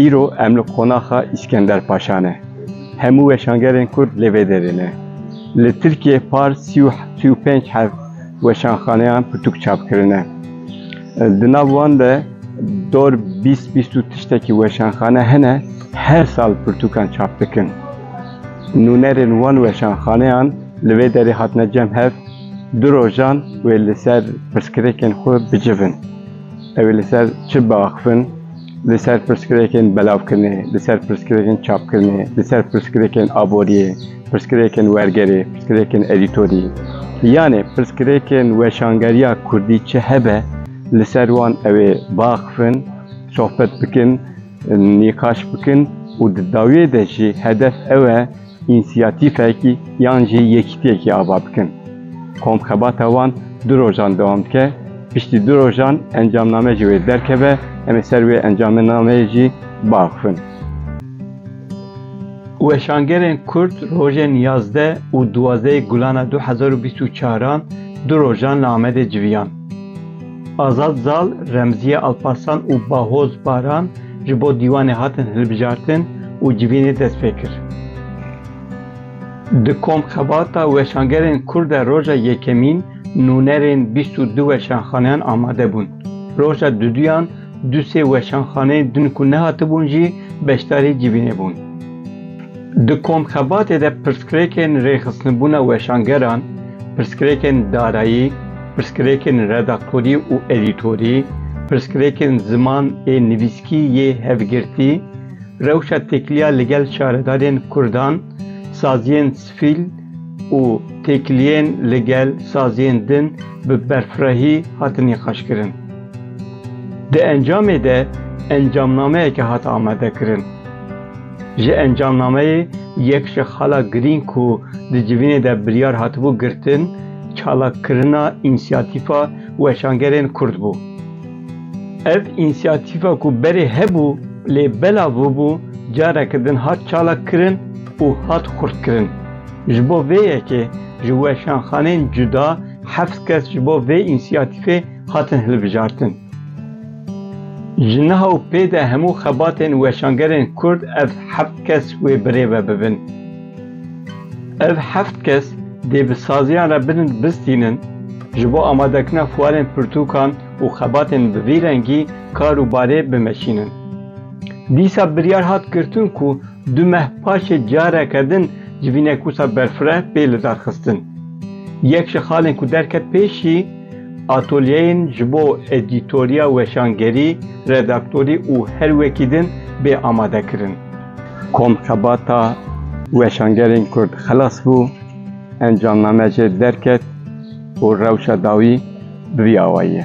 Îro em li qonaxa Îskender Paşa ne. Hemû weşangerên Kurd lê vê derê ne. Li Tirkiyeyê par sî û sî û pênc hev weşanxaneyan pirtûk çap kirine. Di nav wan de dor bîst bîst û tiştekî weşanxane hene her sal pirtûkan çap dikin. Nûnerên wan weşanxaneyan li vê derê hatine cem hev du rojan wê li ser pirsgirêkên xwe bicivin. Ew ê li ser çi biaxivin? li ser pirsgirêkên belavkirinê, li ser pirsgirêkên çapkirinê, li ser pirsgirêkên aboriyê, pirsgirêkên wergerê, pirsgirêkên edîtorî yanê pirsgirêkên weşangeriya kurdî çi hebe li ser wan ew ê biaxivin, sohbet bikin, nîqaş bikin û di dawiyê de jî hedef ew e, însiyatîfekî yan jî yekîtiyekî ava bikin. Komxebata wan du rojan dewam dike, piştî du rojan encamname ji wê derkeve, em ê ser wê encamnameyê jî biaxivin. Weşangerên Kurd rojên yazdeh û duwazdehê gulana du hezar û bîst û çaran du rojan li Amedê civiyan. Azad Zal, Remziye Alparslan û Bahoz Baran ji bo dîwanê hatin hilbijartin û civînê dest pê kir. Di komxebata weşangerên Kurd de roja yekemîn nûnerên bîst û du weşanxaneyan amade bûn. Roja duduyan du sê weşanxaneyên din ku nehatibûn jî beşdarî civînê bûn. Di komxebatê de pirsgirêkên rêxistinbûna weşangeran, pirsgirêkên darayî, Pirsgirêkên redaktorî û edîtorî, pirsgirêkên ziman ê nivîskî yê hevgirtî, rewşa têkiliya li gel şaredarên kurdan, saziyên sifîl û têkiliyên li gel saziyên din bi berfirehî hatin nîqaşkirin. Di encamê de encamnameyeke hat amadekirin. Ji encamnameyê yek ji xala girîng ku di civînê de biryar hatibû girtin, Çalakirina însiyatîfa weşangerên Kurd bû. Ev însiyatîfa ku berê hebû lê bela bûbû careke din hat çalakkirin û hat xurtkirin. Ji bo vê yekê ji weşanxanên cuda heft kes ji bo vê însiyatîfê hatin hilbijartin. Ji niha û pê de hemû xebatên weşangerên Kurd ev heft kes wê birêve bibin. Ev heft kes dê bi saziyan re bilind bistînin, ji bo amadekirina fuarên pirtûkan û xebatên bi vî rengî kar û barê bimeşînin. Dîsa biryar hat girtin ku du meh paşê careke din ji vî nekûsa berfireh bê lidarxistin. Yek ji xalên ku derket pêşî, atolyeyên ji bo edîtoriya, weşangerî, redaktorî û her wekî din bê amadekirin. Kom xebata weşangerên Kurd xilas bû, encamname jê derket û rewşa dawî bi vî awayî ye.